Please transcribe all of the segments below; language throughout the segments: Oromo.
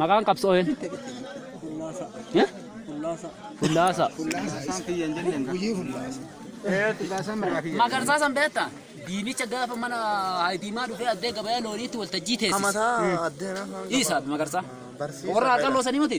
Maqaan qabsoo een? Eh? Fullaasaa. Magarsaa san beektaa? Diimicha gaafa mana Haayitiimaa dhufee addee gabayaa looniitti waltajjii teessise. Isa magarsaa. Warra haqalloo sanii miti?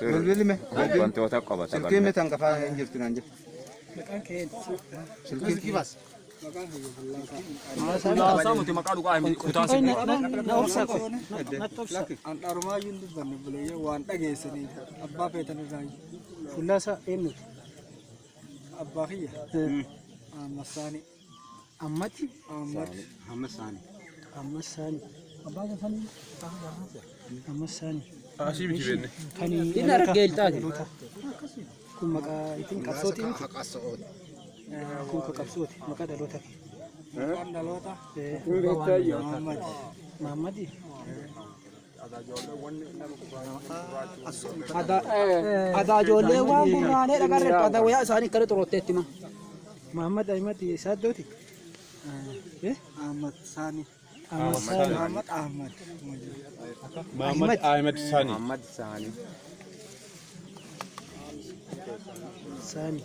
Bilbilli mee. Wantoota qabata Silkiin qabna. mitan qafaa hin jirtu naan jedhu. Silkiin baas. Haasaa miti maqaa dhugaa hin kutaan si Handhaarumaayyuu hin dubbanne buleeyyee waan dhageessanii abbaa feetan irraa Fullaasaa eenyuti? abbaa kiyya. Massaanii. Ammati. Ammati. Ammas saani. Ammas saani. Abbaa gafanii. Ammas saani. Asii miti beenne. Kan Inni argee iltaati. Kun maqaa ittiin qabsooti miti. Haqasa'ooti. Kun kan qabsooti. Maqaa dhaloota kee. Maqaan dhaloota. Maammadi. Maammadi. Adaa ijoollee waan gurraanee dhagarre adaa wayaa isaanii akkana xurotteetti ma. Muhammad Ahmad Saaddooti. Ahmad Saani. Ahmad Ahmad. Muhammad Ahmed Sani. Ahmad Saani. Saani.